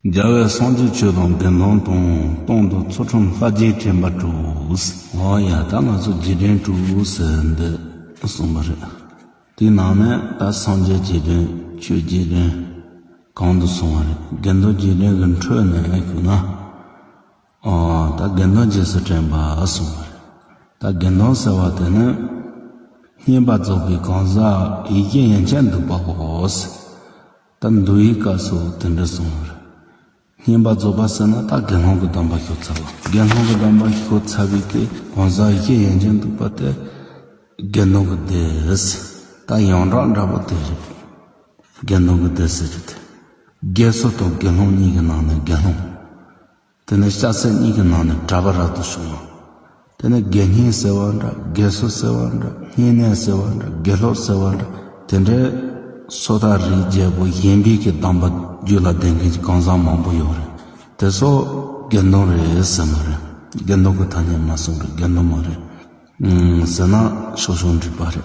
རྒྱལ་བའི་གསང་སྤྱོད་ཆོས་དང་དགེ་མཐོང་དང་སྟོང་དང་ཚུར་ཁྲོམ་ལྷ་རྒྱལ་ཁྱིམ་པ་དྲུག། ཨོ་ཡ་ད་ང་ཚོ་རྗེས་དྲན་དྲུག་ཟེར་འདི་གསུངས་པ་རེད། དེའི་ནང་ནས་ད་སངས་རྒྱས་རྗེས་དྲན་ཆོས་རྗེས་དྲན་གང་དུ་སོང་བ་རེད་དགེ་མཐོང་རྗེས་དྲན་གྱི་འཕྲོས་ནས་གུས་ན་ཨོ་ད་དགེ་མཐོང་རྗེས་སུ་དྲན་པ་གསུངས་པ་རེད། ད་དགེ་མཐོང་ཟེར་བ་དེ་ནི་བསྙེན་པ་རྫོགས་པའི་གང་ཟག་ཡི་གེ་ཡན་ཆད་འདུག་པ་བོ། ད་མདོ་ཡི་བཀའ་སོགས་དེ་འདྲ་གསུངས་མོད། བསྙེན་པ་རྫོགས་པ་ཟེར་ན་ད་དགེ་སློང་གི་གདམས་པ་ཤོད་ཚར་བ། དགེ་སློང་གི་གདམས་པ་ཤོད་ཚར་བའི་དེ་གང་ཟག་བཞི་ཡན་ཆད་འདུག་པ་དེ་དགེ་འདུན་གྱི་སྡེ། ད་ཡང་གྲགས་འདྲ་པོ་དེ་རེད། དགེ་འདུན་གྱི་སྡེ་ཟེར་རྒྱུ་དེ། དགེ་བསོད་དང་དགེ་སློང་གཉིས་ཀྱི་ནང་ནས་དགེ་སློང། དེ་ནས་ལྕགས་ཚད་གཉིས་ཀྱི་ནང་ནས་གྲྭ་པ་རག་ཏུ་བྱུང་ངོ། དེ་ནས་དགེ་བསྙེན་ཟེར་བ་འདྲ་དགེ་བསོད་ཟེར་བ་འདྲ་བསྙེན་གནས་ཟེར་བ་འདྲ་དགེ་ལོག་ཟེར་བ་འདྲ་དེ་འདྲའི། སོ་ཐར་རིའི་རྒྱལ་པོ་གཞན་ཕལ་གྱི་གདམས་པ་རྒྱུད་ལ་ལྡན་མཁན་གྱི་གང་ཟག་མང་པོ་ཡོད་རེད། དེ་ཚོ་དགེ་འདུན་རེད་ཟེར་མ་རེད། དགེ་འདུན་གྱི་ཐ་སྙད་མ་གསུངས་པས་དགེ་འདུན་མ་རེད། ཟེར་ན་ཆོག་ཆོག་འགྲིག་པ་རེད།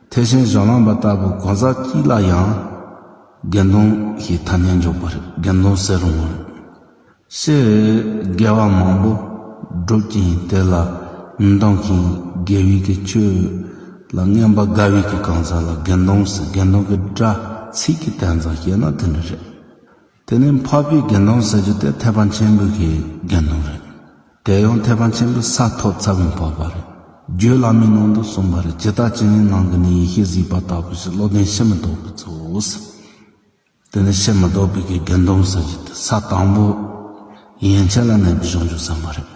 ཐེག་ཆེན་གཞན་ལམ་པ་ལྟ་བུ་གང་ཟག་གཅིག་ལ་ཡང། དགེ་འདུན་ཞེས་ཐ་སྙད་འཇོག་པར་དགེ་འདུན་ཟེར་རུང། ཤེས་རབ་དགེ་བ་མང་པོ་བསྒྲུབ་ཅིང་དེ་ལ་མི་འདང་ཞིང་དགེ་བས་ཀྱི་ཆོས་ལ་རྔན་པ་དགའ་བས་ཀྱི་གང་ཟག་ལ་དགེ་འདུན་ཟེར་དགེ་འདུན་གྱི་སྒྲ་ཚིག་གི་དན་ཙམ་ཤེས་ན་དེ་འདྲ་རེད། དེ་ནི་འཕགས་པའི་དགེ་འདུན་ཟེར་རྒྱུ་དེ་ཐེག་པ་ཆེན་པོའི་གི་དགེ་འདུན་རེད། དེ་ཡང་ཐེག་པ་ཆེན་པོའི་ས་ཐོབ་ཚ་བའི་འཕགས་པ་རེད། རྒྱུད་བླ་མའི་ནང་དུ་གསུངས་པ་རེད་ཇི་ལྟར་ཅི་ནས་ནང་གི་ནི་ཡེ་ཤེས་གཟིགས་པ་ལྟ་བུ་ཞིག་བློ་ལྡན་ཕྱིར་མི་ལྡོག་པའི་གཙོ་བོ་ཟེར། དེ་ནི་ཕྱིར་མི་ལྡོག་པའི་གི་དགེ་འདུན་ཟེར་རྒྱུ་དེ་ས་དང་པོ། ཡན་ཆད་ལ་གནས་པའི་གཞུང་བཅུ་བསམ་པ་རེད།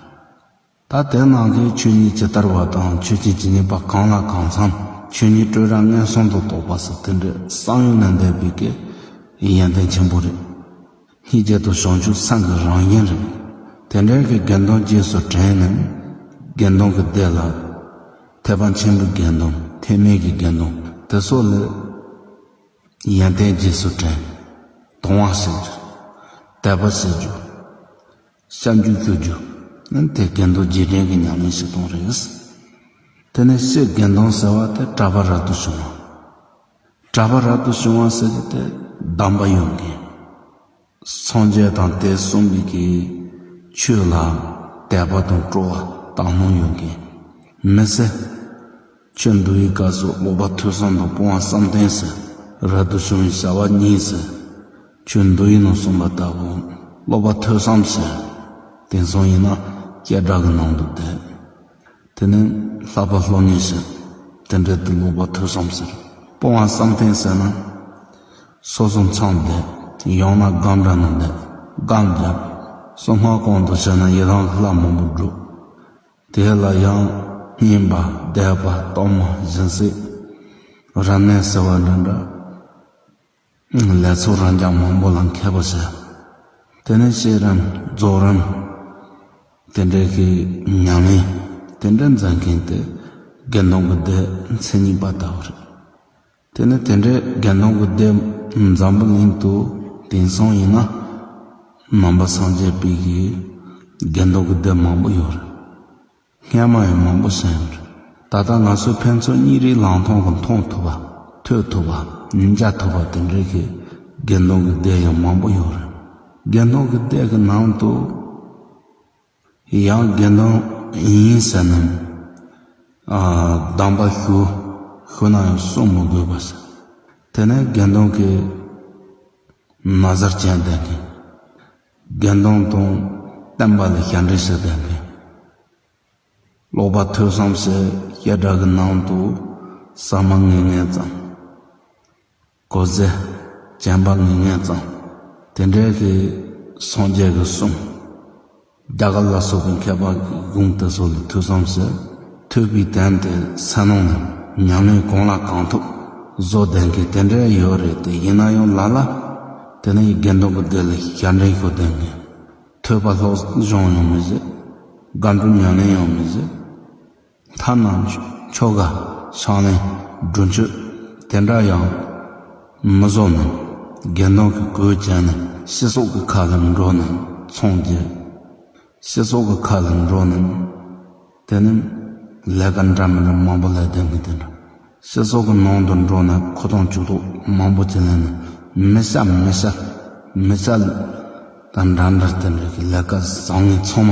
ད་ལྟའི་ནང་གི་ཆོས་ཉིད་ཇི་ལྟར་བ་དང་ཆོས་ཀྱི་ཇི་སྙེད་པ་གང་ལ་གང་འཚམ་ཆོས་ཉིད་སྤྲོས་རང་ངན་སོང་དུ་དོགས་པ་སོགས་དེ་འདྲའི་བསམ་ཡུལ་ལས་འདས་པའི་སྐད་ཡིག་ཡོན་ཏན་ཆེན་པོ་རེད། སྙིགས་རྗེ་དང་བྱང་ཆུབ་སེམས་ཀྱི་རང་བཞིན་རེད། དེ་འདྲའི་གི་དགེ་འདུན་རྗེས་སུ་དྲན་ནས། དགེ་འདུན་གྱི་སྡེ་ལ། ཐེག་པ་ཆེན་པོའི་དགེ་འདུན་ཐེག་དམན་གྱི་དགེ་འདུན་དེ་སོགས་ལས། ཡོན་ཏན་རྗེས་སུ་དྲན། དུང་བ་བྱེད་རྒྱུ། དད་པ་བྱེད་རྒྱུ། གཤམ་གྱི་རྩོད་རྒྱུ་ནི་དེ་རྒན་རྡོ་རྗེ་དྲན་གྱི་ཉམས་ལེན་ཞིག་དང་རེད། དེ་ནས་ཕྱིས་རྒན་རྡོ་ཟེར་བ་དེ་གྲྭ་པ་རབ་ཏུ་བྱུང་བ། གྲྭ་པ་རབ་ཏུ་བྱུང་བ་ཟེར་རྒྱུ་དེ་གདམས་པ་ཡོང་མཁན་སངས་རྒྱས་དང་དེ་གསུམ་གྱི་གི་ཆོས་ལ་དད་པ་དང་སྤྲོ་བ་དག་སྣང་ཡོང་མཁན་མི་ཟེར། ཆོས་འདུལ་ཡི་ག་སོགས་ལོག་པ་ཐོས་བསམ་དང་སྤོང་བ་བསམ་གཏན་ཟེར། རབ་ཏུ་བྱུང་བའི་བྱ་བ་གཉིས་ཟེར། ཆོས་འདུལ་ཡིན་ནོ་གསུངས་པ་ལྟ་བུ། ལོག་པ་ཐོས་བསམ་ཟེར། དེང་སང་ཡིན་ན་སྐད་སྒྲ་གི་ནང་དུ་བསྡད། དེ་ནི་ལྷག་པ་ལྷོ་གཉིས་ཟེར། དེ་འབྲེལ་དུ་ལོག་པ་ཐོས་བསམ་ཟེར། སྤོང་བ་བསམ་གཏན་ཟེར་ན། སོ་སོ་མཚང་བསྡད། ཡང་ན་སྒང་འདྲ་ན་བསྡད། སྒང་བརྒྱབ། སོ་སྔགས་གོང་དུ་བྱས་ན་ཡི་རང་ལྷ་མང་པོ་འགྲུབ། དེ་ལ་ཡང་བསྙེན་པ་བཟླས་པ་གཏོར་མ་སྦྱིན་སྲེག་རབ་གནས་ཟེར་བ་འདི་འདྲ་ལས་ཚོགས་རང་རྐྱང་མང་པོ་ལ་མཁས་པར་བྱ། དེ་ནས་བཤད་རིམ་རྫོགས་རིམ་དེ་འདྲའི་གི་ཉམས་ལེན་དེ་འདྲ་མཛད་མཁན་དེ་དགེ་འདུན་གྱི་སྡེའི་མཚན་ཉིད་པ་ལྟ་བུ་རེད། དེ་ནི་དེ་འདྲའི་དགེ་འདུན་གྱི་སྡེ་འཛམ་བུ་གླིང་དུ་དེང་སང་ཡིན་ན་ནང་པ་སངས་རྒྱས་པའི་གི་དགེ་འདུན་གྱི་སྡེ་མང་པོ་ཡོད་རེད། སྔས་མ་ཡང་མང་པོ་ཟིན་ཡོད་རེད་ད་ལྟ་ང་ཚོས་ཕན་ཚུན་གཉིས་རིགས་ལང་ཐོང་གི་མཐོང་ཐུབ་པ་ཐོས་ཐུབ་པ་ཉིན་བརྒྱ་ཐུབ་པ་དེ་འདྲའི་གི་དགེ་འདུན་གྱི་སྡེ་ཡང་མང་པོ་ཡོད་རེད། དགེ་འདུན་གྱི་སྡེ་གི་ནང་དུ། ཡང་དགེ་འདུན་ཡིན་ཟེར་ནམ། གདམས་པ་ཞུ། ཞུ་ན་ཡང་གསུང་མི་དགོས་པར་ཟེར། དེ་ནས་དགེ་འདུན་གྱི། ན་བཟར་ཅན་བསྡད་ནས། དགེ་འདུན་དང་བསྟན་པ་ལ་ཞབས་འདྲེན་བྱེད་བསྡད་ནས། ཀློག་པ་ཐོས་བསམ་བྱེད་བྱེད་སྒྲ་གི་ནང་དུ་ཟ་མ་ངེས་ངེས་ཙམ། གོ་ཟས་བྱམས་པ་ངན་ངན་ཙམ། དེ་འདྲའི་གི་སངས་རྒྱས་ཀྱི་གསུང། རྒྱ་གར་ལ་སོགས་པའི་མཁས་པ་གི་དགོངས་དེ་ཚོ་ལས་ཐོས་བསམ་ཟོས་ཐོས་པའི་དོན་དེ་ཟས་ནོར་ནས་མྱང་ལེན་གང་ལ་གང་ཐུབ་བཟོ་བདེན་གི་དེ་འདྲའི་ཡོད་རེད་དེ་ཡིན་ན་ཡང་ལ་ལ་དེ་ནས་དགེ་འདུན་གི་སྡེ་ལས་ཞལ་འདྲེན་ཞུ་བདེན་གི་ཐོས་པ་ལྷོད་གཞོང་ཡང་མི་བཟོད་སྒམ་དྲུག་མྱང་ལེན་ཡང་མི་བཟོད། མཐའ་ན་ཁྱོ་ག་ཆང་ལེན་སྒྲུབ་མཆོད་དེ་འདྲ་ཡང་མི་བཟོ་ནས་དགེ་འདུན་གྱི་གོས་བྱས་ནས་ཕྱི་སོག་གི་ཁ་ལ་འགྲོ་ནས་ཚོང་རྒྱུ། ཕྱི་སོག་གི་ཁ་ལ་འགྲོ་ནས་དེ་ནི་ལས་ཀ་འདྲ་མི་འདྲ་མང་པོ་ལས་དོན་གྱི་དེ་འདྲ། ཕྱི་སོག་གི་ནང་དུ་འགྲོ་ནས་ཁོ་ཐང་ཆུ་ཐོག་མང་པོ་བྱེད་ལེན་ནས་མི་ཤ་མི་ཤ་མི་ཤ་དང་འདྲ་འདྲ་དེ་འདྲ་གྱི་ལས་ཀ་བཟང་ངན་ཚང་མ།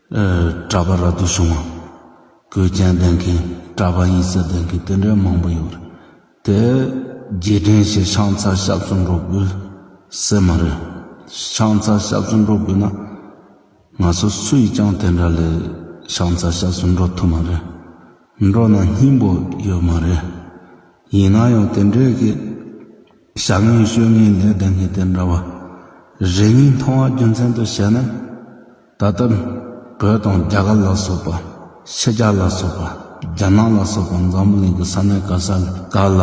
གྲྭ་པ་ར་རྡོ་བྱུང་བ། གོས་རྒྱན་འདོན་མཁན་གྲྭ་པ་ཡིད་སེམས་ལྡན་མཁན་དེ་འདྲའི་མང་པོ་ཡོད་རེད་དེ། རྗེས་དྲན་ཞེས་ཤང་ཚར་ཞབས་སུ་འགྲོ་དགོས་ཟེར་མ་རེད། ཤང་ཚར་ཞབས་སུ་འགྲོ་དགོས་ན། ང་ཚོ་སུ་ཡིས་ཀྱང་དེ་འདྲ་ལས་ཤང་ཚར་ཞབས་སུ་འགྲོ་ཐུབ་མ་རེད། འགྲོ་ན་སྙིང་པོ་ཡོད་མ་རེད། ཡིན་ན་ཡང་དེ་འདྲའི་གི། བྱ་ངན་ཤོད་ངན་ལས་བསྡད་མཁན་དེ་འདྲ་བ། རེ་གཉིས་མཐོང་བ་རྒྱུ་མཚན་དུ་བྱས་ན། ད་ལྟ་བོད་དང་རྒྱ་གར་ལ་སོགས་པ། ཕྱི་རྒྱལ་ལ་སོགས་པ། རྒྱ་ནག་ལ་སོགས་པ་འཛམ་བུ་གླིང་གི་ས་གནས་ག་ས་ག་ལ།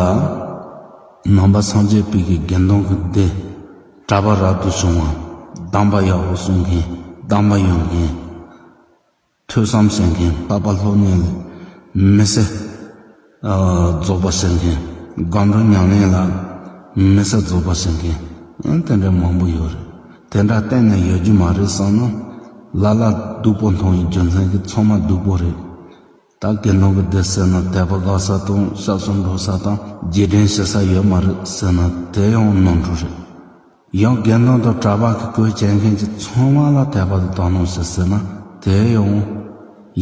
ནང་པ་སངས་རྒྱས་པིག་གི་དགེ་འདུན་གྱི་སྡེ། གྲྭ་པ་རབ་ཏུ་བྱུང་བ། གདམས་པ་ཡག་པོ་གསུང་མཁན་གདམས་པ་ཡོད་མཁན། ཐོས་བསམ་བྱེད་མཁན། ལྷག་པ་ལྷོ་གནས་ལས་མི་སེ། རྫོགས་པར་ཤེས་མཁན། སྒམ་རུ་ཉམས་ལེན་ལ་མི་གསལ་རྫོགས་པར་ཤེས་མཁན། དེ་འདྲ་མང་པོ་ཡོད་རེད། དེ་འདྲ་གཏན་ནས་ཡོད་རྒྱུ་མ་རེད་བསམ་ན། ལ་ལ་སྡུག་པོ་མཐོང་བའི་རྒྱུ་མཚན་གྱི་ཚོང་མ་སྡུག་པོ་རེད། ད་དགེ་འདུན་གྱི་སྡེ་ཟེར་ན་དད་པ་དགའ་ས་དང་ཞབས་སོར་འགྲོ་ས་དང་རྗེས་དྲན་བྱེད་ས་ཡོད་མ་རེད་ཟེར་ན་དེ་ཡང་ནོར་འཁྲུལ་རེད། ཡང་དགེ་འདུན་དང་གྲྭ་པ་གི་གོས་བྱས་མཁན་གྱི་ཚོང་བ་ལ་དད་པ་དང་དག་སྣང་བྱེད་ཟེར་ན་དེ་ཡང།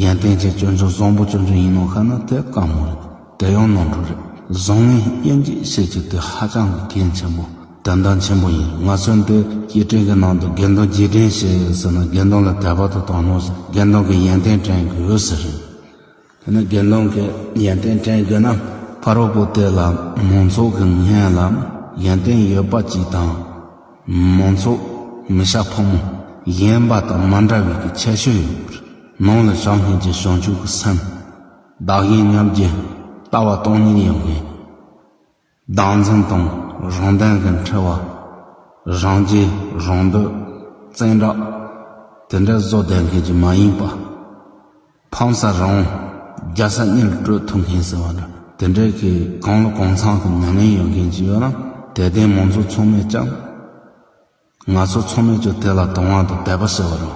ཡོན་ཏན་ཅན་སྐྱོན་ཅན་བཟང་པོ་སྐྱོན་ཅན་ཡིན་ནོ་ཁ་ན་དེ་དཀའ་མོ་རེད་དེ་ཡང་ནོར་འཁྲུལ་རེད་བཟང་ངན་དབྱེ་འབྱེད་བྱེད་རྒྱུ་དེ་ཧ་ཅང་གི་གལ་ཆེན་པོ་དོན་དག་ཆེན་པོ་ཡིན་ང་ཚོས་འདི་སྐྱེ་ཕྲེང་གི་ནང་དུ་དགེ་འདུན་རྗེས་དྲན་བྱེད་ཟེར་ན་དགེ་འདུན་ལ་དད་པ་དང་དག་སྣང་བྱེད་དགེ་འདུན་གྱི་ཡོན་ཏན་དྲན་དགོས་ཟེར་རེད། ཡང་ན་དགེ་སློང་གི་ཡོན་ཏན་དྲན་དགོས་ན། ཕ་རོལ་པོ་དེ་ལ་མོངས་ཚོགས་ཀྱི་ངན་ལ་ཡོན་ཏན་ཡོད་པ་གཅིག་དང། མོངས་ཚོགས་མི་བྱ་ཕོ་མོ་གཞན་པ་དང་མ་འདྲ་བའི་གི་ཁྱད་ཆོས་ཡོད་པར་ནང་ལ་བྱང་སྙིང་རྗེ་བྱང་ཆུབ་ཀྱི་སེམས། བདག་གཞན་མཉམ་རྗེས་ལྟ་བ་སྟོང་ཉིད་ཡིན་ངེས། སྡང་འཛིན་དང་རང་དོན་གྱི་འཁྲི་བ། རང་རྒྱལ་རང་འདོད་བཙན་དྲག། དེ་འདྲ་བཟོ་བསྡད་མཁན་གྱི་མ་ཡིན་པ། ཕམ་ས་རང་རྒྱ་ས་གཉིས་ལ་སྤྲོད་ཐུབ་མཁན་ཟེར་བ་འདྲ་དེ་འདྲའི་གི་གང་ལ་གང་འཚམ་གྱི་མྱ་ངན་ཡོད་མཁན་གྱི་ཡོད་ན་དད་ལྡན་མང་ཚོགས་ཚང་མས་ཀྱང། ང་ཚོ་ཚོགས་མི་ཚོས་དེ་ལ་དོན་དབང་དུ་དད་པ་ཟེར་བ་རང།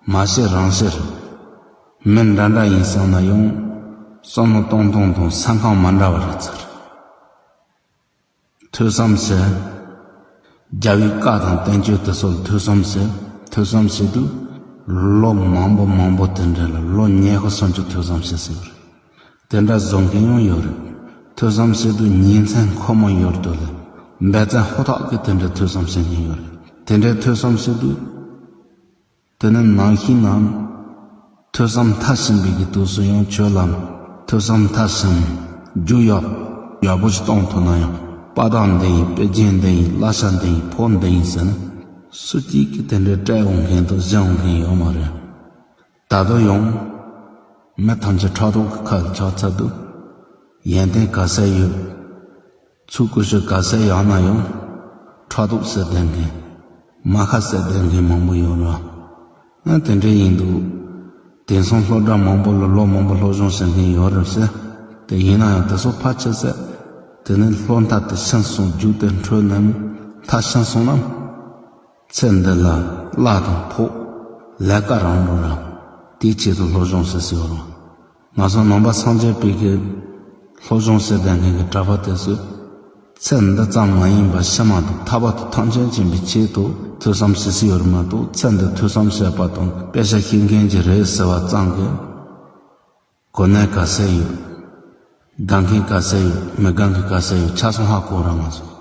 མ་བྱས་རང་བྱས་རེད། མི་འདྲ་འདྲ་ཡིན་བསམ་ན་ཡང། བསམ་བློ་གཏོང་སྟངས་དང་ས་ཁང་མ་འདྲ་བ་རེད་ཚར་རེད། ཐོས་བསམ་བྱས། རྒྱ་བོའི་བཀའ་དང་བསྟན་བཅོས་དེ་ཚོ་ལ་ཐོས་བསམ་བྱས། ཐོས་བསམ་བྱས་དུས། ལོ་མང་པོ་མང་པོ་དེ་འདྲའི་ལ་ལོ་ཉེ་ཤུ་སོང་ཆུ་ཐོས་བསམ་བྱས་ཟིན་པ་རེད། དེ་འདྲ་བཟོ་མཁན་ཡང་ཡོད་རེད། ཐོས་བསམ་བྱེད་དུས་ཉིན་མཚན་ཁོ་མོ་ཡོད་དུས་ལས་འབད་བརྩོན་ཧུར་ཐག་གིས་དེ་འདྲའི་ཐོས་བསམ་བྱེད་མཁན་ཡོད་རེད། དེ་འདྲའི་ཐོས་བསམ་བྱེད་དུས། དེ་ནི་ནང་བཞིན་ནམ། ཐོས་བསམ་མཐར་ཕྱིན་པའི་གི་དུས་སུ་ཡང་ཆོས་ལམ་ཐོས་བསམ་མཐར་ཕྱིན། རྒྱུ་ཡག། ཡག་པོ་ཞིག་གཏོང་ཐུབ་ན་ཡང་དཔའ་རྟགས་འདི་ཡིན་དཔེ་རྒྱན་འདི་ཡིན་བླ་ཤ་འདི་ཡིན་ཕོ་འདི་ཡིན་ཟེར་ན། སུ་གཅིག་གིས་དེ་འདྲའི་སྤྲད་འོང་མཁན་དང་བཞེངས་འོང་མཁན་ཡོད་མ་རེད། ད་དུང་ཡང། མི་ཐམས་ཅད་ཁྲག་དོག་གི་ཁ་ལ་ཆགས་ཚར་འདུག། ཡོན་ཏན་ག་ས་ཡོད། ཚུལ་ཀུ་ཤུ་ག་ས་ཡག་ན་ཡང། ཁྲག་དོག་བསད་བསྡད་མཁན། རྨ་ཁ་བསད་བསྡད་མཁན་མང་པོ་ཡོད་ར། ཨང་དེ་འདྲས་ཡིན་འདུག། དེང་སང་སློབ་གྲྭ་མང་པོ་ལ་ལོ་མང་པོ་སློབ་སྦྱོང་བྱེད་མཁན་ཡོད་རབས་ཟེར་དེ་ཡིན་ན་ཡང་དེ་ཚོ་ཕར་ཆེར་བསད། དེ་ནས་སློབ་མཐའ་དེ་ཕྱིན་སོང་རྒྱུགས་དེ་འཕྲོས་ནས་མཐའ་ཕྱིན་སོང་ནམ། ཚེ་འདི་ལ་བླ་དང་ཕོག། ལས་ཀ་རང་རུ་རག། དེའི་ཆེད་དུ་བློ་སྦྱོང་ཟེར་ཟེར་བ་རང། ང་ཚོ་ནང་པ་སངས་རྒྱས་དཔལ་གྱིས། བློ་སྦྱོང་ཟེར་བསྡད་མཁན་གྱི་གྲྭ་པ་དེ་ཚོས། ཚེ་འདི་ཙམ་མ་ཡིན་པར་ཕྱི་མ་དང་ཐར་པ་དུ་ཐང་ཆེན་བྱིན་པའི་ཆེད་དུ་ཐོས་བསམ་ཟེར་ཟེར་བ་རེད་མ་གཏོགས་ཚེ་འདི་ཐོས་བསམ་བྱེད་པ་དང་དཔེ་ཆ་ཤེས་མཁན་གྱི་རེད་ཟེར་བ་ཙམ་གྱིས། གོ་གནས་དགའ་སའི་ཡོད། དགའ་མཁན་དགའ་སའི་ཡོད་མི་དགའ་མཁན་དགའ་སའི་ཡོད་ཆ་ཚང་ཧ་གོ་རང་ང་ཚོ།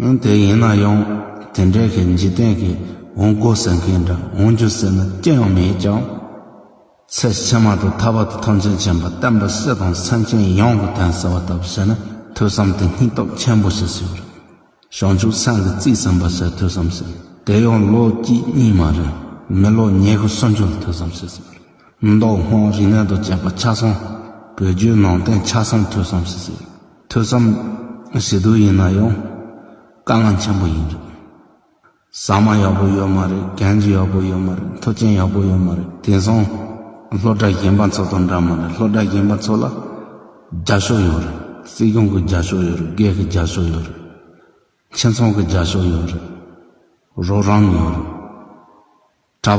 ཡང་དེ་ཡིན་ན་ཡང་དེ་འདྲའི་གི་འཇིག་རྟེན་གི་འོང་དགོས་ཟེར་མཁན་འདྲ་འོང་རྒྱུ་ཟེར་ན་ཅི་ཡང་མེད་ཀྱང། ཚེ་ཕྱི་མ་དང་ཐར་བ་དང་ཐམས་ཅད་མཁྱེན་པ་བསྟན་པ་སྲིད་དང་སེམས་ཅན་ཡོངས་ཀྱི་དོན་ཟེར་བ་ལྟ་བུ་བྱས་ན་ཐོས་བསམ་དེ་སྙིང་སྟོབས་ཆེན་པོ་ཞིག་ཟེར་བ་རེད། བྱང་ཆུབ་སེམས་ཀྱི་རྩིས་ཟིན་པ་ཟེར་ཐོས་བསམ་ཟེར་དེ་ཡང་ལོ་གཅིག་གཉིས་མ་རེད་མི་ལོ་ཉེར་དགུ་སུམ་ཅུ་ལ་ཐོས་བསམ་བྱས་ཟེར་བ་རེད། མདོ་སྔགས་རིག་གནས་དང་བཅས་པ་ཆ་ཚང་བོད་བརྒྱུད་ནང་བསྟན་ཆ་ཚང་ཐོས་བསམ་བྱས་ཟེར་བ་རེད། ཐོས་བསམ་ཞེ་སྡུག་ཡིན་ན་ཡང། དཀའ་ངལ་ཆེན་པོ་ཡིན་རེད། ཟ་མ་ཡག་པོ་ཡོད་མ་རེད་གན་རྒྱ་ཡག་པོ་ཡོད་མ་རེད་མཐུ་རྐྱེན་ཡག་པོ་ཡོད་མ་རེད་དེང་སང་སློབ་གྲྭ་གཞན་པ་ཚོ་དང་འདྲ་མ་རེད་སློབ་གྲྭ་གཞན་པ་ཚོ་ལ་རྒྱ་ཤོག་ཡོད་རེད་སྲིད་སྐྱོང་གི་རྒྱ་ཤོག་ཡོད་རེད་སྒེར་གྱི་རྒྱ་ཤོག་ཡོད་རེད་ཁྱིམ་ཚང་གི་རྒྱ་ཤོག་ཡོད་རེད་རོགས་རམ་ཡོད་རེད། གྲྭ་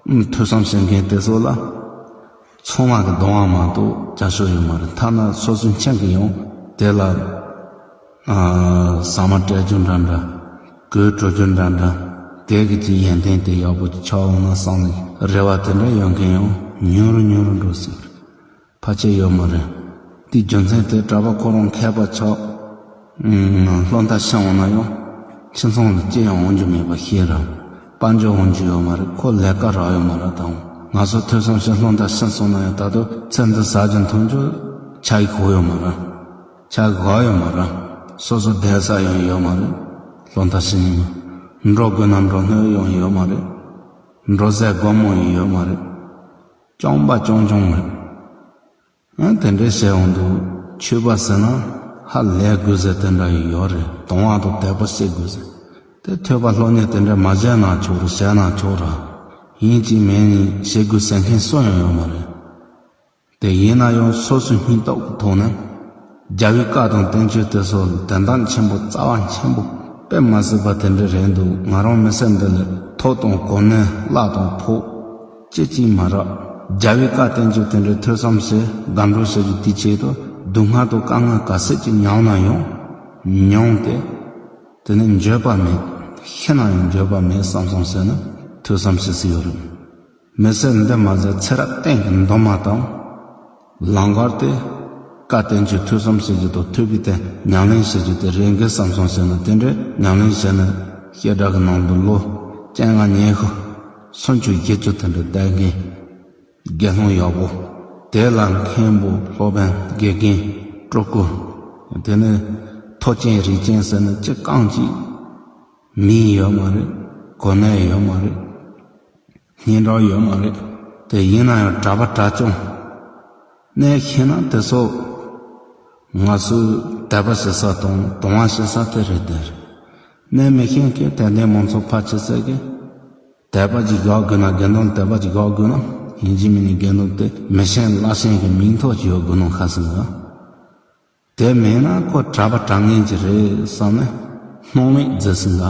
པ། ཐོས་བསམ་བྱེད་མཁན་དེ་ཚོ་ལ། ཚོང་དམག་གི་གདོང་དབང་མ་གཏོགས་བརྒྱ་ཆོག་ཡོད་མ་རེད་ཐ་ན་ཚོགས་གཙོའི་མཆན་གྱི་ཡང་དེ་ལ། ཟ་མ་སྤྲད་རྒྱུ་འདྲ་འདྲ། གོས་དྲོ་རྒྱུ་འདྲ་འདྲ། དལ་གྱིས་ཀྱི་ཡན་ཐན་དེ་ཡག་པོ་ཆགས་འོང་ན་བསམ་ནས་རེ་བ་དེ་འདྲ་ཡོད་མཁན་ཡང་ཉུང་རུ་ཉུང་རུ་འགྲོ་སྲིད། ཕར་ཆེར་ཡོད་མ་རེད། དེའི་རྒྱུ་མཚན་དེ་གྲྭ་པ་ཁོ་རང་མཁས་པ་ཆགས། སློབ་མཐར་ཕྱིན་འོང་ན་ཡང། ཁྱིམ་ཚང་ལ་ཅི་ཡང་འོང་རྒྱུ་མེད་པ་ཤེས་རབ། དཔལ་འབྱོར་འོང་རྒྱུ་ཡོད་མ་རེད་ཁོ་ལས་ཀ་རག་ཡོད་མ་རེད་དང། ང་ཚོ་ཐོས་བསམ་བྱས་སློབ་མཐར་ཕྱིན་སོང་ན་ཡང་ད་དུ་ཚེ་འདི་ཟག་རྒྱུ་འཐུང་རྒྱུ། ཆ་གི་གོ་ཡོད་མ་རེད། ཆ་གི་ག་ཡོད་མ་རེད། སོ་སོ་བསྡད་ས་ཡང་ཡོད་མ་རེད། སློབ་མཐར་ཕྱིན་ནས། འགྲོ་དགོས་ན་འགྲོ་སྣོད་ཡང་ཡོད་མ་རེད། འགྲོ་ཟས་སྒོར་མོ་ཡང་ཡོད་མ་རེད། སྐྱོང་པ་སྐྱོང་སྐྱོང་མོད། ཡང་དེ་འདྲའི་བཤད་འོང་འདུག་ཆོས་པ་ཟེར་ན་ཧ་ལས་དགོས་ཟེར་དེ་འདྲ་ཡི་ཡོད་རེད་དོན་དབང་དུ་དད་པ་བསྐྱེད་དགོས་ཟེར་དེ་ཐོས་པ་ལྷོད་གཉེར་དེ་འདྲ་མ་བྱས་ན་ཆོག་རེད་བྱས་ན་ཆོག་ར་ཡིན་གཅིག་མིན་གཉིས་བྱེད་དགོས་ཟེར་མཁན་སུ་ཡང་ཡོད་མ་རེད་དེ་ཡིན་ན་ཡང་སོ་སོའི་སྙིང་སྟོབས་ཀྱི་ཐོག་ནས། རྒྱ་བོད་བཀའ་དང་བསྟན་བཅོས་དེ་ཚོ་དོན་དག་ཆེན་པོ་རྩ་བ་ཆེན་པོ་དཔེ་མ་ཟོས་པ་དེ་འདྲ་རེད་འདུག་ང་རང་མི་སེར་འདི་ལ་ཐོག་དང་གོ་གནས་བླ་དང་ཕོག་སྐྱེ་གཅིག་མ་རག་རྒྱ་བོད་བཀའ་བསྟན་བཅོས་དེ་འདྲ་ཐོས་བསམ་བསལ་སྒམ་འགྲོ་བྱ་རྒྱུ་དེ་ཆེད་དུ་སྡུག་བསྔལ་དང་དཀའ་ངལ་ག་ཟེར་གྱི་མྱངས་ན་ཡང་མྱོང་སྟེ། དེ་ནས་འགྱོད་པ་མེད་ཤི་ན་ཡང་འགྱོད་པ་མེད་བསམ་སོང་ཟེར་ན་ཐོས་བསམ་བྱེད་སྲིད་ཡོད་རེད། མི་སེར་འདི་མ་ཟད་ཚེ་རབས་གཏན་གྱི་མདོ་སྨྲ་དང། ལང་ཀར་ཏེ། བཀའ་བསྟན་བཅོས་ཐོས་བསམ་བྱེད་རྒྱུ་དང་ཐོས་པའི་ཐད་ཉམས་ལེན་བྱེད་རྒྱུ་དེ་རེ་འགས་བསམ་བཟང་བྱས་ན་དེ་འདྲའི་ཉམས་ལེན་བྱས་ན། སྐད་སྒྲ་གི་ནང་དུ་ལོ། སྤྱན་སྔ་ཉེ་ཤུ། ཚུན་ཆོད་བརྒྱད་ཅུ་དེ་འདྲ་བསྡད་མཁན། དགེ་སློང་ཡག་པོ། དེ་ལ་མཁན་པོ་སློབ་དཔོན་དགེ་རྒན། སྤྲུལ་སྐུ། དེ་ནས། ཐོ་ཅན་རིགས་ཅན་ཟེར་ནི་ཅི་རྐང་གཅིག། མིང་ཡོད་མ་རེད། གོ་གནས་ཡོད་མ་རེད། སྙན་གྲགས་ཡོད་མ་རེད། དེ་ཡིན་ན་ཡང་གྲྭ་པ་གྲྭ་བཙུན། གནས་མཁས་ན་དེ་སོགས། ང་ཚོས་དད་པ་བྱེད་ས་དང་དུང་བ་བྱེད་ས་དེ་རེད་དེར། གནས་མི་མཁས་ཀྱི་དད་ལྡན་མང་ཚོགས་ཕར་ཆེར་བཙལ་གི། དད་པ་ཅིག་རྒྱག་དགོས་ན་དགེ་འདུན་དད་པ་ཅིག་རྒྱག་དགོས་ན་ཡིན་གྱི་མིན་ནི་དགེ་འདུན་དེ་མི་ཆེན་བླ་ཆེན་གྱི་མིང་ཐོག་ཅིག་ཡོད་དགོས་ན་ཁ་སང་གི། དེ་མེད་ན་ཁོ་གྲྭ་པ་གྲགས་ངན་གྱི་རེད་བསམ་ནས་སྣང་མེད་མཛད་ཟིན་ལ།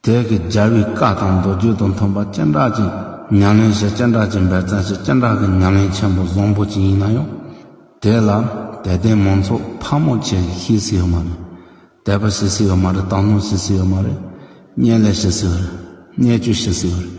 དེ་གི་རྒྱལ་བའི་བཀའ་དང་མདོ་རྒྱུད་དང་མཐུན་པ་སྤྱན་དྲངས་ཀྱི་ཉམས་ལེན་ཞེས་སྤྱན་དྲངས་ཀྱི་འབད་བརྩོན་ཞེས་སྤྱན་དྲངས་ཀྱི་ཉམས་ལེན་ཆེན་པོ་བཟང་པོ་གཅིག་ཡིན་ན་ཡང། དེ་ལ་དད་ལྡན་མང་ཚོགས་ཕག་མོ་ཆེ་ཞེས་ཤེས་སྲིད་ཡོད་མ་རེད། དད་པ་ཤེས་སྲིད་ཡོད་མ་རེད་དག་སྣང་ཤེས་སྲིད་ཡོད་མ་རེད། བརྙན་ལེན་ཤེས་སྲིད་ཡོད་རེད། བརྙས་བཅོས་ཤེས་སྲིད་ཡོད་རེད།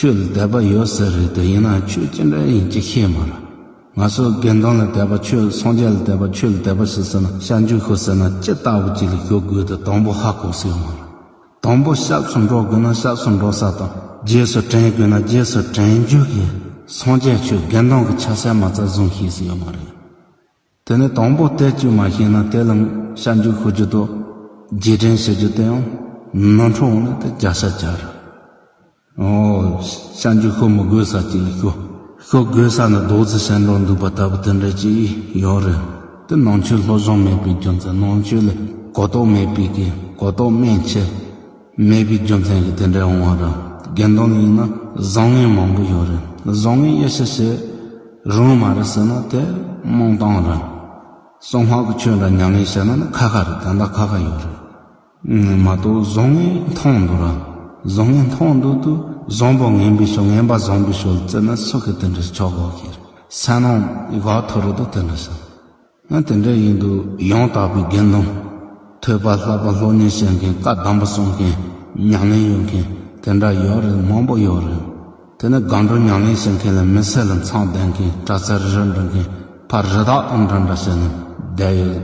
ཁྱོད་ལ་དད་པ་ཡོད་ས་རེད་དེ་ཡིན་ན་ཁྱོད་ཅི་འདྲ་ཡིན་ཅི་ཤེས་མ་ར། ང་ཚོ་དགེ་འདུན་ལ་དད་པ་ཁྱོད་སངས་རྒྱས་ལ་དད་པ་ཁྱོད་ལ་དད་པ་ཞིག་ཟེར་ན་ཤ་འཇུ་ཤོག་ཟེར་ན་ཅི་ལྟ་བུ་ཅིག་ལ་ཞོག་དགོས་དེ་དང་པོ་ཧ་གོ་ཟེར་མ་ར། དང་པོ་ཤགས་སུ་འགྲོ་དགོས་ན་ཤགས་སུ་འགྲོ་ས་དང་རྗེས་སུ་དྲན་དགོས་ན་རྗེས་སུ་དྲན་རྒྱུ་ཡིན་སངས་རྒྱས་ཁྱོད་དགེ་འདུན་གྱི་ཆ་སེ་མ་རྩ་བཟུང་ཤེས་ས་ཡོད་མ་རེད། དེ་ནི་དང་པོ་སྟེ་དཀྱུས་མ་ཤེས་ན་དེ་ལ་ཤར་འཇུག་ཤོར་འཇུག་དང་རྗེས་དྲན་བྱེད་རྒྱུ་དེ་ཡང་ནོར་འཁྲུལ་འོང་ན་དེ་རྒྱག་ཤ་རྒྱག་རེད། ཤར་འཇུག་ཤོར་མི་དགོས་ས་ཅིག་ལ་ཤོར་ཤོར་དགོས་ས་ནི་རྡོག་བརྫིས་བྱས་འགྲོ་འདུག་པ་ལྟ་བུ་དེ་འདྲ་ཅིག་ཡོད་རེད། དེ་ནང་ཆོས་བློ་སྦྱོང་མེད་པའི་རྒྱུ་མཚན་ནང་ཆོས་ལ་གོ་རྟོགས་མེད་པའི་གོ་རྟོགས་མན་ཆད། མེད་པའི་རྒྱུ་མཚན་གྱིས་དེ་འདྲའི་འོང་བ་དང་དགེ་འདུན་ཡིན་ན་བཟང་ངན་མང་པོ་ཡོད་རེད་བཟང་ངན་དབྱེ་ཞིབ་བྱེད་རུང་མ་རེད་ཟེར་ན་དེ་རྨོངས་སྟངས་རེད། གསང་སྔགས་ཀྱི་ཆོས་འདྲ་མྱ་ངན་བྱས་ན་ནི་ཁ་ཁ་རེད་ད་ལྟ་ཁ་ཁ་ཡོད་རེད། མ་གཏོགས་བཟང་ངན་མཐོང་འདུག་ར་བཟང་ངན་མཐོང་འདུག་ཏུ་བཟང་པོ་ངན་པའི་ཕྱོགས་ངན་པ་བཟང་པོའི་ཕྱོགས་ལ་བརྩི་ན་སུ་གི་དེ་འདྲའི་ཕྱོགས་འགོག་གི་རེད་ཟ་ནང་གི་ག་དྷུ་རེད་དོ་དེ་འདྲ་བྱ། ང་དེ་འདྲ་ཡིན་འདུག་ཡང་དག་པའི་དགེ་མཐོང། ཐོས་པ་ལྷག་པ་ལྷོད་གཉེར་བྱེད་མཁན་བཀའ་གདམས་པ་གསུང་མཁན་ཉམས་ལེན་ཡོད་མཁན་དེ་འདྲ་ཡོད་རེད་མང་པོ་ཡོད་རེད། དེ་ནི་སྒང་དྲུང་ཉམས་ལེན་བྱེད་མཁན་ལ་མི་སེར་ལ་མཚང་ལྡན་མཁན་པྲ་ཚིལ་རེ་རེ་འབྲི་མཁན་ཕ་རི་དྭགས་དང་འདྲ་འདྲ་བྱེད་ནས་བསྡད་ཡོད་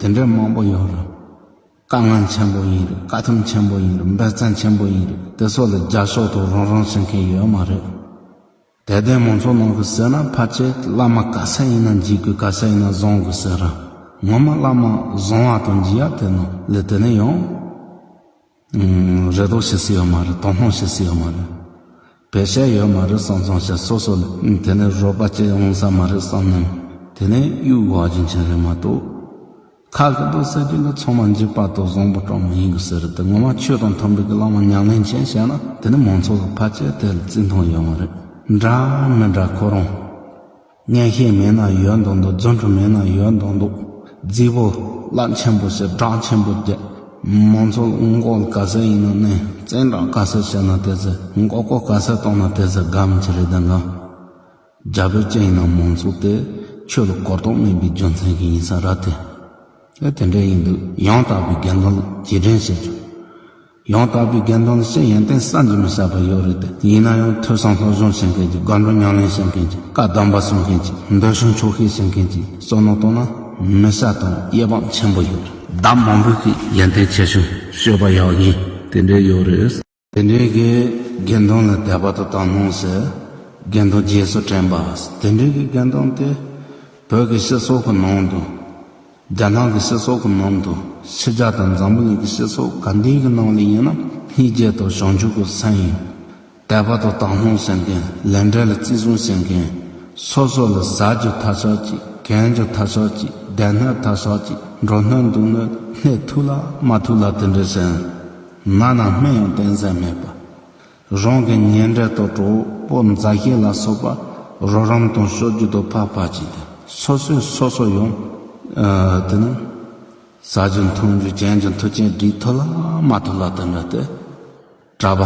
དེ་འདྲའི་མང་པོ་ཡོད་རེད། བཀའ་ངན་ཆེན་པོ་ཡིན་རེད་བཀའ་ཐུབ་ཆེན་པོ་ཡིན་རེད་འབད་བརྩོན་ཆེན་པོ་ཡིན་རེད་དེ་སོགས་ལ་རྒྱབ་ཤོག་ཐོག་རང་རང་བྱེད་མཁན་ཡོད་མ་རེད། དད་ལྡན་མང་ཚོགས་ནང་དུ་ཟེར་ན་ཕ་བྱས་བླ་མ་ག་ས་ཡིན་ན་འཇིགས་དགོས་ག་ས་ཡིན་ན་བཟང་དགོས་ཟེར་རང་ངོ་མ་བླ་མ་བཟང་བ་དང་འཇིགས་ཡག་དེ་ནང་ལས་དེ་ནས་ཡང་རེ་དོགས་བྱེད་སྲིད་ཡོད་མ་རེད་དོགས་སྣང་བྱེད་སྲིད་ཡོད་མ་རེད་བེད་བཤད་ཡོད་མ་རེད་བསམ་བསམ་བྱས་སོ་སོ་ལས་དེ་ནས་རོགས་པ་བྱས་ཡོང་ས་མ་རེད་བསམ་ནའི་དེ་ནས་གཡུག་བ་རྒྱུ་མཚན་རེད་མ་གཏོགས། ཁ་ཁུ་དོག་ཟེར་རྒྱུ་འདི་ཚང་མ་འཇིགས་པ་དང་བཟང་པོ་གྲངས་མེད་ཡིན་དགོས་ཟེར་དེ་ངོ་མ་ཆོས་དང་མཐུན་པའི་གི་ལག་མ་ཉག་ལེན་ཅན་བྱས་ན་དེ་ནི་མང་ཚོགས་ལ་ཕལ་ཆེར་དེ་ལ་བརྩི་མཐོང་ཡོད་མ་རེད་འདྲ་མི་འདྲ་ཁོ་རང་བརྙན་ཤེལ་མེད་ན་ཡོད་མདོག་མདོག་རྫུན་འཕྲུལ་མེད་ན་ཡོད་མདོག་མདོག་རྫིག་པོ་རླབས་ཆེན་པོ་ཞེས་གྲགས་ཆེན་པོ་རྒྱལ་མང་ཚོ་ལ་མགོ་ལ་ག་ཟེ་ཡིན་ན་ནས་བཙན་དྲག་ག་ཟེ་བྱས་ན་དེ་ཟེ་མགོ་ཀོ་ག་ཟེ་གཏོང་ན་དེ་ཟེ་དགའ་མི་ཆེ་རེད་དེ་འགང། རྒྱ་བོད་ཅི་ཡིན་ནམ་མང་ཚོགས་དེ་ཆོས་ལ་གོ་རྟོགས་མིན་པའི་རྒྱུ་མཚན་གྱིས་ཡིན་ས་ར་སྟེ། ཨེ་དེ་འདྲས་ཡིན་འདུག་ཡང་དག་པའི་དགེ་འདུན་ལ་རྗེས་དྲན་བྱེད་ཆོག། ཡང་དག་པའི་དགེ་འདུན་ལ་ཤེས་ཡོན་ཏན་བསམ་གྱིས་མི་ཁྱབ་པ་ཡོད་རེད་དེ། ཡིན་ན་ཡང་ཐོས་བསམ་སློབ་སྦྱོང་བྱེད་མཁན་གྱི་དགའ་འབྲོ་ཉམས་ལེན་བྱེད་མཁན་གྱི་བཀའ་གདམས་པ་གསུང་མཁན་གྱི་འདོད་གཞུང་འཁྱོག་ཤེས་བྱེད་མཁན་གྱི་བསོད་ནམས་རྟོགས་ན་མི་ཤ་དང་གཡས་པང་ཆེན་པོ་ཡོད་རེད། བདག་མང་པོས་ཀྱིས་ཡོན་ཏན་ཆེ་ཞིང་སྤྱོད་པ་ཡག་ཡིན་དེ་འདྲས་ཡོད་རེད། དེ་འདྲའི་གི་དགེ་འདུན་ལ་དད་པ་དུ་བཏང་སྣང་ཟེར། དགེ་འདུན་རྗེས་སུ་དྲན་པ། དེ་འདྲའི་གི་དགེ་འདུན་དེ། བོད་ཀྱི་སྤྱི་ཚོགས་ཀྱི་ནང་དུ། རྒྱ་ནག་གི་སྤྱི་ཚོགས་ཀྱི་ནང་དུ། ཕྱི་རྒྱ་དང་འཛམ་བུ་གླིང་གི་སྤྱི་ཚོགས་གང་དེའི་གི་ནང་ལ་ཡིན་ན། སྙིགས་རྗེ་དང་བྱང་ཆུབ་ཀྱི་མཚན་ཡིན། དད་པ་དུ་བཏང་སྣང་ཟེར་མཁན། ལས་འབྲས་ལ་བརྩི་སྲུང་བྱེད་མཁན། སོ་སོ་ལ་ཟ་རྒྱུ་ཐ་ཆགས་ཅིག་གན་རྒྱུ་ཐ་ཆགས་ཅིག་བསྡད་སྣོད་ཐ་ཆགས་ཅིག་འགྲོ་སྣོད་འདུག་སྣོད་སྣེ་ཐུག་ལ་མ་ཐུག་ལ་དེ་འདྲའི་ཟེར། ནགས་ནང་སྨན་ཡང་བསྟེན་ས་མེད་པ། རང་གི་ཉེ་འབྲེལ་དང་གྲོགས་པོ་མཛའ་བཤེས་ལ་སོགས་པ་རོགས་རམ་དང་གསོལ་རྒྱུ་དང་ཕག་ཕག་བྱས་ཏེ་སོ་སོས་སོ་སོ་ཡོང། དེ་ནི། ཟ་རྒྱུ་འཐུང་རྒྱུ་གྱེན་རྒྱུ་མཐུ་ཆེན་བསྒྲིགས་ཐུབ་ལ་མ་ཐུབ་ལ་དེ་འདྲ་སྟེ། གྲྭ་པ་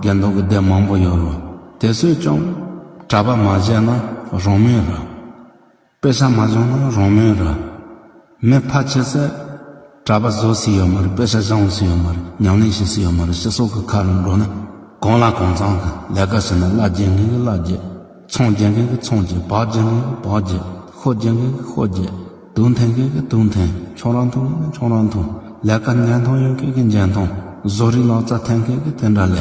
དགེ་འདུན་གྱི་སྡེ་མང་པོ་ཡོད་རུང་དེ་ཚོས་ཀྱང་གྲྭ་པ་མ་བྱས་ན་རང་མོས་རེད། དཔེ་ཆ་མ་སྦྱོང་ན་རང་མོས་ར། མི་ཕ་ཁྱི་སེར། གྲྭ་པ་བཟོ་སྲིད་ཡོད་མ་རེད་དཔེ་ཆ་སྦྱང་སྲིད་ཡོད་མ་རེད་ཉམས་ལེན་བྱེད་སྲིད་ཡོད་མ་རེད་སྤྱི་ཚོགས་ཀྱི་ཁ་རུ་འགྲོ་ན་གང་ལ་གང་ཚང་གི་ལས་ཀ་བྱེད་ན་གླ་རྒྱས་མཁན་གྱི་གླ་རྒྱས། ཚོང་རྒྱས་མཁན་གྱི་ཚོང་རྒྱས་བག་རྒྱས་མཁན་གྱི་བག་རྒྱས་ཤོ་རྒྱས་མཁན་གྱི་ཤོ་རྒྱས་དུག་འཐེན་མཁན་གྱི་དུག་འཐེན་ཁྱོད་རང་འཐུང་མཁན་གྱི་ཁྱོད་རང་འཐུང་ལས་ཀ་འཇལ་མཐོང་ཡོད་མཁན་གྱི་འཇལ་མཐོང་བཟོ་རིག་ལག་རྩལ་འཐེན་མཁན་གྱི་དེ་འདྲ་ལས།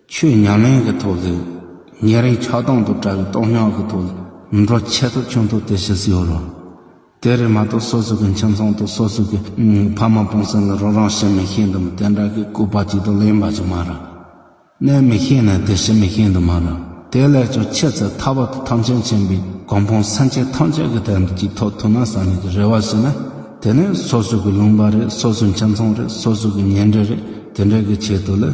ཆོས་ཉམས་ལེན་གྱི་ཐོག་ཏུ། ཉིན་རེའི་ཆགས་སྡང་དུ་བཀྲ་བའི་རྟོག་སྙོགས་ཀྱི་ཐོག་ཏུ། མི་འགྲོ་ཆད་ཐོ་ཆུང་ཐོ་དེ་ཞིག་ཡོད་རུང། དེ་རེད་མ་གཏོགས་སོ་སོ་གི་ཁྱིམ་ཚང་དང་སོ་སོ་གི་ཕ་མ་སྤུན་སེམས་ལ་རོགས་རམ་བྱེད་མི་ཤེས་འདུག་མོད་དེ་འདྲ་གི་སྐུ་པར་གཅིག་ཏུ་ལེན་པ་ཅིག་མ་རེད། གནས་མི་ཤེས་ནས་དེ་བྱེད་མི་ཤེས་འདུག་མ་རེད། དེ་ལས་ཀྱང་ཆེས་ཚེ་ཐར་བར་དུ་ཐམས་ཅད་མཁྱེན་པའི་གོང་འཕང་སེམས་ཅན་ཐམས་ཅད་ཀྱི་དོན་དུ་གཅིག་ཐོག་ཐུག་ན་བསམ་ཡས་ཀྱི་རེ་བ་ཞིག་ནི། དེ་ནི་སོ་སོ་གི་ལུང་པ་རེད་སོ་སོའི་ཁྱིམ་ཚང་རེད་སོ་སོ་གི་ཉེ་འབྲེལ་རེད་དེ་འདྲའི་གི་ཆེད་དུ་ལས།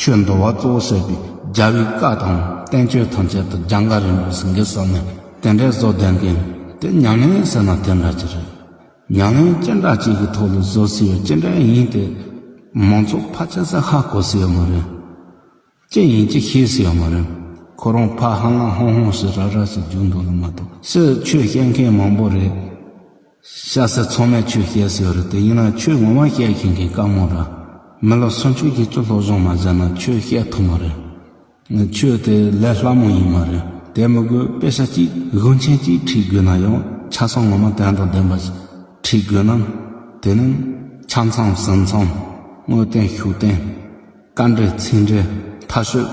ཆོས་འདུལ་བ་གཙོ་བོ་བྱས་པའི་རྒྱ་བོད་བཀའ་དང་བསྟན་བཅོས་ཐམས་ཅད་དུ་རྒྱ་འགའ་རེ་འབུལ་ཟིན་གྱི་ས་ནས་དེ་འདྲའི་བཟོ་ལྡན་མཁན་དེ་ཉང་ལན་ཟེར་ན་དེ་འདྲ་གྱི་རེད། ཉང་ལན་སྤྱན་དྲངས་བཅས་ཀྱི་ཐོག་ལ་བཟོ་སྲིད་ཡོད་ཅི་འདྲའི་ཡིན་དེ། མང་ཚོགས་ཕ་ཆེ་ས་ཧ་གོ་སྲིད་ཡོད་མ་རེད། ཅི་ཡིན་ཅི་ཤེས་སྲིད་ཡོད་མ་རེད། ཁོ་རང་ཕ་ཧ་ལང་ཧོང་ཧོང་ཞིག་ར་ར་ཞིག་རྒྱུགས་འདུག་ལ་མ་གཏོགས་ཕྱིར་ཆོས་བཤད་མཁན་མང་པོ་རེད། ཤ་ཟ་ཚང་མས་ཆོས་བཤད་ཟེར་བ་རེད་དེ་ཡིན་ན་ཆོས་ངོ་མ་བཤད་མཁན་གྱི་བཀའ་མོ་ར་མི་ལོ་སུམ་ཅུ་བརྒྱད་ཅུ་ལྷོ་བཞུགས་མ་བཞག་ན་ཆོས་བཤད་ཐུབ་མ་རེད། ཆོས་དེ་ལས་སླ་མོ་ཡིན་མ་རེད་དེ་མི་དགོས་དཔེ་ཆ་གཅིག་དགོན་ཆེན་གཅིག་ཁྲིད་དགོས་ན་ཡང་ཆ་ཚང་ངོ་མ་དོན་དང་ལྡན་པ་ཞིག་ཁྲིད་དགོས་ན་དེ་ནི་ཆ་མཚམས་ཟིན་མཚམས་དངོས་བསྟན་ཤུགས་བསྟན་བཀའ་འགྲེལ་ཚིག་འགྲེལ་མཐའ་ཤོད་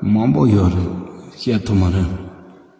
མང་པོ་ཡོད་རེད་བཤད་ཐུབ་མ་རེད།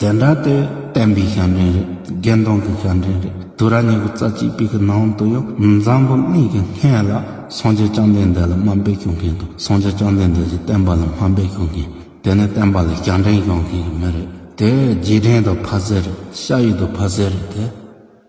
དེ་འདྲ་དེ་བསྟན་པའི་ཞབས་འདྲེན་རེད་དགེ་མཐོང་གི་ཞབས་འདྲེན་རེད་དུ་ར་ཉི་ཤུ་རྩ་གཅིག་པའི་གི་ནང་དུ་ཡང་འཛམ་བུ་གླིང་གི་སྔས་ལ་སངས་རྒྱས་བཅོམ་ལྡན་འདས་ལ་སྨ་འབེལ་ཞུ་མཁན་དང་སངས་རྒྱས་བཅོམ་ལྡན་འདས་ཀྱི་བསྟན་པ་ལ་སྨ་འབེལ་ཞུ་མཁན་དེ་ནི་བསྟན་པ་ལ་ཞབས་འདྲེན་ཞུ་མཁན་གྱི་མི་རེད་དེ་རྗེས་དྲན་དང་ཕ་ཟེར་རེད་ཤ་ཡིག་དང་ཕ་ཟེར་རེད་དེ།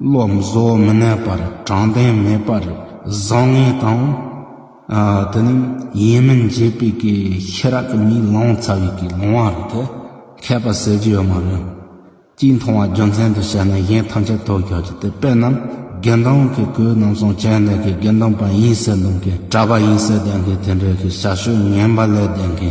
བློ་བཟོ་མི་གནས་པར་དྲང་བདེན་མེད་པར་བཟང་ངན་དང། དེ་ནི་ཡིན་མིན་འབྱེད་པའི་གེ་ཤི་རག་གི་མིའི་ལངས་ཚ་བའི་གེ་ལོང་བ་རེད་དེ། མཁས་པ་ཟེར་རྒྱུ་ཡོད་མ་རེད། སྤྱིའི་མཐོང་བ་རྒྱུ་མཚན་དུ་བྱས་ན་གཞན་ཐམས་ཅད་དོ་ཁྱོད་ཀྱི་དེ་དཔེ་རྣམས་དགེ་མདང་གི་གོས་རྣམས་སོང་བྱས་ནས་གི་དགེ་མདང་པ་ཡིན་ཟེར་མདོང་གི་གྲྭ་པ་ཡིན་ཟེར་བདེན་གི་དེ་འདྲའི་གི་ཞག་ཤོས་ངན་པ་ལས་བདེན་གི།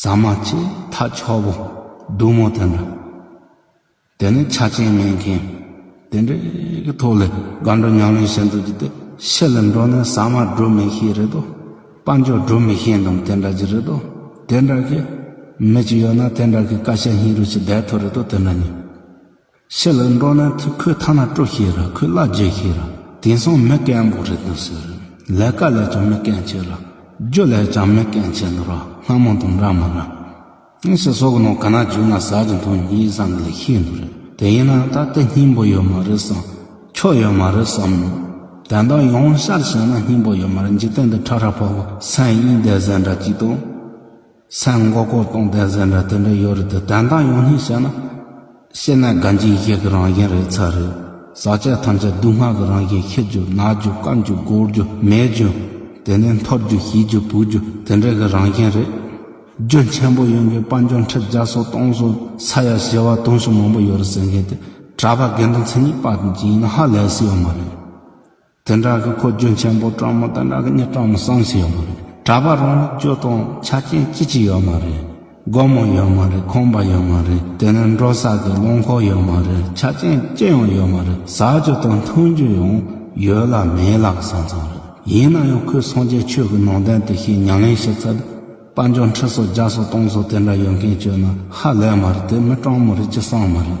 ཟ་མ་བཅས་ཐག་མཆོག་པོ་བདུད་མོ་དེ་འདྲ། དེ་ནི་ཆ་རྐྱེན་མེད་མཁན་དེ་འདྲའི་གི་ཐོག་ལས་དགའ་འགྲོ་ཉམས་ལེན་བྱེད་འདོད་ཀྱི་དེ་ཕྱི་ལ་འགྲོ་ནས་ཟ་མ་སྒྲུབ་མི་ཤེས་རེད་དོ། དཔའ་འཇོག་སྒྲུབ་མི་ཤེས་འདུག་དེ་འདྲ་གྱི་རེད་དོ། དེ་འདྲ་གི་མི་གཅིག་ཡོད་ན་དེ་འདྲ་གི་བཀའ་ཤག་སྙིང་རུས་ཀྱི་བརྡས་ཐོ་རེད་དོ་དེ་འདྲ་ཉིད། ཕྱི་ལ་འགྲོ་ན་ཐུག་ཁོས་ཐ་ན་སྤྲོ་ཤེས་ར་ཁོས་གླ་རྒྱག་ཤེས་ར་དེང་སང་མི་སྐད་འབོག་རེད་འདུག་ཟེར་རོ། ལས་ཀ་ལས་ཀྱང་མི་སྐད་བྱེད་ར། རྒྱུ་ལས་ཀྱང་མི་སྐད་བྱེད་འདུག་ར་སྔ་མོ་དང་འདྲ་མིན་ར། ངས་ཞིག་ཟོག་གི་ནང་ག་ན་བརྒྱུགས་ན་ཟ་གི་འདུག་ཉིན་གཉིས་བཟང་གི་ལས་ཤེས་འདུག་ར་དེ་ཡིན་ན་ད་ལྟ་སྙིང་པོ་ཡོད་མ་རེད་བསམ། ཁྱོ་ཡོད་མ་རེད་བསམ། དེ་འདྲ་ཡོང་ཤར་བྱས་ན་སྙིང་པོ་ཡོད་མ་རེད་འཇིག་རྟེན་འདི་ཁྲ་ཁྲ་ཕོག་ཕོག་སེམས་གཡེང་བསྡད་ཟེར་འདྲ་ཅིག་འདུག། སའི་མགོ་སྐོར་སྟོང་ལྡན་ཟེར་འདྲ་དེ་འདྲ་ཡོད་རེད་དེ་དྲན་སྟངས་ཡོང་སྙིང་བཤད་ན། བཤད་ན་དགའ་འཇིགས་ཡི་གེ་གི་རང་བཞིན་རེད་ཚར་རེད། ཟག་བཅས་ཐམས་ཅད་སྡུག་བསྔལ་གི་རང་བཞིན་ཁེར་རྒྱུ་ནག་རྒྱུ་དཀར་རྒྱུ་སྒོར་རྒྱུ་མེད་རྒྱུ། དེ་ནས་མཐོ་རྒྱུ་ཞི་རྒྱུ་བུག་རྒྱུ་དེ་འདྲས་གི་རང་བཞིན་རེད། རྒྱུ་ཆེན་པོ་ཡོང་གི་དཔའ་འབྱོར་འཁྲིད་རྒྱ་སོ་སྟོང་སོ་ས་ཡ་བཞི་བ་དུང་ཕྱུར་མང་པོ་ཡོད་རེད་ཟེར་མཁན་དེ་གྲྭ་པ་དགེ་འདུན་ཚན་གཉིས་པ་ཅན་ཡིན་ན་ཧ་ལས་སྲིད་ཡོད་མ་རེད། དེ་འདྲ་གི་ཁོ་རྒྱུན་ཆེན་པོ་སྤྲང་མོ་དེ་འདྲ་གི་གཉིད་སྤྲང་མོ་སངས་ཤིག་ཡོད་མ་རེད་གྲྭ་པ་རང་ཉིད་སྐྱོ་དང་ཆ་རྐྱེན་ཅི་ཅི་ཡོད་མ་རེད་སྒོར་མོ་ཡོད་མ་རེད་ཁང་པ་ཡོད་མ་རེད་དེ་ནས་འགྲོ་ས་གི་རླངས་འཁོར་ཡོད་མ་རེད་ཆ་རྐྱེན་ཅི་ཡང་ཡོད་མ་རེད་ཟ་རྒྱུ་དང་འཐུང་རྒྱུ་ཡང་ཡོད་ལ་མེད་ལ་གི་ས་མཚམས་རེད་ཡིན་ན་ཡང་ཁོས་སངས་རྒྱས་ཆོས་ཀྱི་ནང་དོན་དེ་ཤེས་ཉང་ལེན་ཞིག་ཚར་དཔའ་འཇོག་འཁྲི་སོ་རྒྱག་སོ་གཏོང་སོ་དེ་འདྲ་ཡོད་མཁན་ཁྱོད་ན་ཧ་ལས་མ་རེད་དེ་མི་སྤྲང་མོ་རེད་ཅི་སངས་མ་རེད།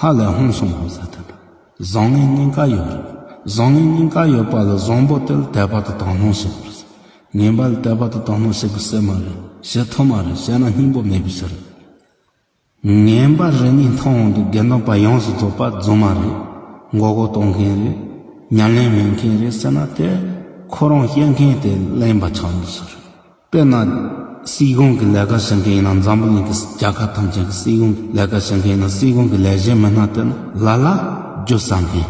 ཧ་ལས་ཧོན་སོང་ངོ་ཟེར་ཐུབ། བཟང་ངན་གཉིས་ཀ་ཡོད་རེད། བཟང་ངན་གཉིས་ཀ་ཡོད་པ་ལ་བཟང་པོ་དེར་དད་པ་དང་དག་སྣང་བྱེད་དགོས་རེད། ངན་པ་ལ་དད་པ་དང་དག་སྣང་བྱེད་དགོས་སེ་མ་རེད། བྱེད་ཐུབ་མ་རེད་བྱས་ན་སྙིང་པོ་མེད་པའི་ཕྱིར་རེད། ངན་པ་རེ་གཉིས་མཐོང་འོང་དུ་དགེ་འདུན་པ་ཡོངས་སུ་རྫོགས་པ་རྫུན་མ་རེད། མགོ་སྐོར་གཏོང་མཁན་རེད། ཉམས་ལེན་མེད་མཁན་རེད་ཟེར་ན་དེ་ཁོ་རང་སྐྱེ་མཁན་དེ་གླེན་པ་ཆགས་ནུས་སུ་རེད། དཔེར་ན། སྲིད་གཞུང་གི་ལས་ཀ་བྱེད་མཁན་ཡིན་ན་འཛམ་བུ་གླིང་གི་རྒྱལ་ཁབ་ཐམས་ཅད་ཀྱི་སྲིད་གཞུང་གི་ལས་ཀ་བྱེད་མཁན་ཡིན་ན་སྲིད་གཞུང་གི་ལས་བྱེད་མི་སྣ་དེ་ནི་ལ་ལ་རྒྱུ་ཟ་མཁན།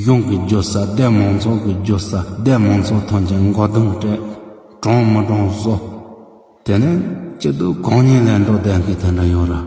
གཞུང་གི་རྒྱུ་ཟ་སྡེ་མང་ཚོགས་ཀྱི་རྒྱུ་ཟ་སྡེ་མང་ཚོགས་ཐམས་ཅད་མགོ་རྡུང་སྤྲད། གྲངས་མི་གྲངས་བཟོ། དེ་ནས་སྤྱི་འཐུས་གང་ཉིད་ལས་འགྲོ་བསྡད་མཁན་དེ་འདྲ་ཡོད་རེད།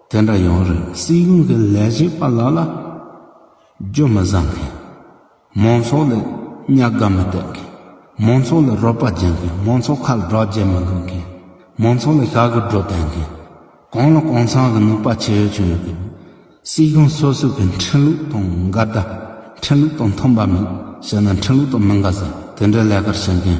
དེ་འདྲ་ཡོང་རིགས་སྲིད་གཞུང་གི་ལས་བྱེད་པ་ལ་ལ་རྒྱུ་མི་བཟང་མཁན། མང་ཚོགས་ལ་གཉའ་ག་མི་གཏད་མཁན། མང་ཚོགས་ལ་རོགས་པ་བྱེད་མཁན་མང་ཚོགས་ཁ་ལ་སྒྲོག་བརྒྱབ་མི་དགོས་མཁན། མང་ཚོགས་ལ་ཞག་གི་སྒྲོག་བསྟན་མཁན། གང་ལ་གང་ཚང་གི་ནུས་པ་ཇི་ཡོད་ཇི་ཡོད་ཀྱིས་སྲིད་གཞུང་སོ་སོ་གི་འཕྲིན་ལུགས་དང་འགལ་ཟླ། འཕྲིན་ལུགས་དང་མཐུན་པ་མིན་ཞེ་ན་འཕྲིན་ལུགས་དང་མི་འགལ་ཟེར་དེ་འདྲའི་ལས་ཀར་བྱེད་མཁན།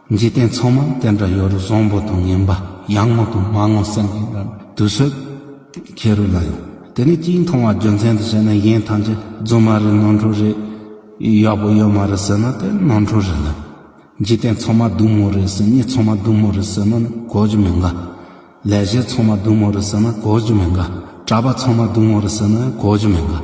འཇིག་རྟེན་ཚང་མ་དེ་འདྲ་ཡོད་རུང་བཟང་པོ་དང་ངན་པ་ཡག་ངོ་དང་མ་ངོ་སེམས་ཀྱི་འདྲ་དུ་བཟོད་ཁྱེད་རུ་ལ་ཡོད་དེ་ནི་གཅིག་མཐོང་བ་རྒྱུ་མཚན་དུ་བྱས་ན་གཞན་ཐམས་ཅད་རྫུན་མ་རེད་ནོར་འཁྲུལ་རེད་ཡག་པོ་ཡོད་མ་རེད་ཟེར་ན་དེ་ནོར་འཁྲུལ་རེད་ལ། འཇིག་རྟེན་ཚང་མ་སྡུག་མོ་རེད་ཟེར་གཉིས་ཚང་མ་སྡུག་མོ་རེད་ཟེར་ན་ནི་གོ་རྒྱུ་མི་འགའ། ལས་བྱེད་ཚང་མ་སྡུག་མོ་རེད་ཟེར་ན་གོ་རྒྱུ་མི་འགའ། གྲྭ་པ་ཚང་མ་སྡུག་མོ་རེད་ཟེར་ན་ཡང་གོ་རྒྱུ་མི་འགའ།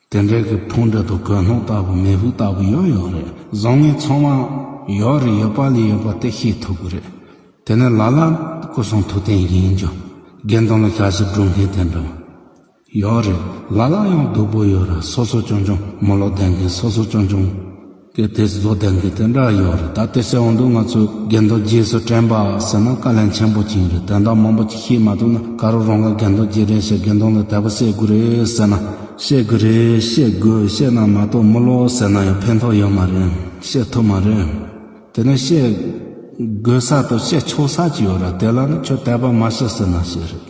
དེ་འདྲའི་གི་ཕུང་འདྲ་དང་གོས་སྣུམ་ལྟ་བུ་མེ་ཕུག་ལྟ་བུ་ཡོད་ཡོད་རེད་བཟང་ངན་ཚང་མ་ཡོད་རེད་ཡོད་པ་ལས་ཡོད་པ་དེ་ཤེས་ཐུབ་གི་རེད་དེ་ནི་ལ་ལ་སྐུ་གསུང་ཐུགས་རྟེན་ཡིན་རྒྱུ་དགེ་འདུན་ལ་ཞག་ཞིག་སྒྲུབ་མཁན་དེ་འདྲ་ཡོད་རེད་ལ་ལ་ཡང་སྡུག་པོ་ཡོད་རེད་སོ་སོ་ཆུང་ཆུང་མོ་ལོག་ལྡན་མཁན་སོ་སོ་ཆུང་ཆུང། གལ་ཏེ་བཟོ་ལྡན་གྱི་དོན་དག་ཡོད་རེད་ད་དེ་སྲིད་འོང་དུས་ང་ཚོས་རྒན་རྡོ་རྗེས་སུ་དྲན་པ་ཟེར་ན་བཀའ་ལན་ཆེན་པོ་བྱིན་རེད་དོན་དག་མང་པོ་ཅིག་ཤེས་མ་ཐུབ་ན་ག་རུ་རང་ག་རྒན་རྡོ་རྗེ་རེད་ཞེས་རྒན་རྡོ་ལ་དལ་པོ་བཤད་དགོས་རེད་ཟེར་ན། བཤད་དགོས་རེད་བཤད་དགོས་བཤད་ན་མ་གཏོགས་མི་ལོ་ཟེར་ན་ཡང་ཕན་ཐོགས་ཡོད་མ་རེད་བཤད་ཐུབ་མ་རེད། དེ་ནས་བཤད་དགོས་ས་དང་བཤད་ཆོག་ས་ཅིག་ཡོད་རེད་དེ་ལ་ནི་ཁྱོད་དལ་པ་མ་བཤད་ཟེར་ན་ཤེས་རེད།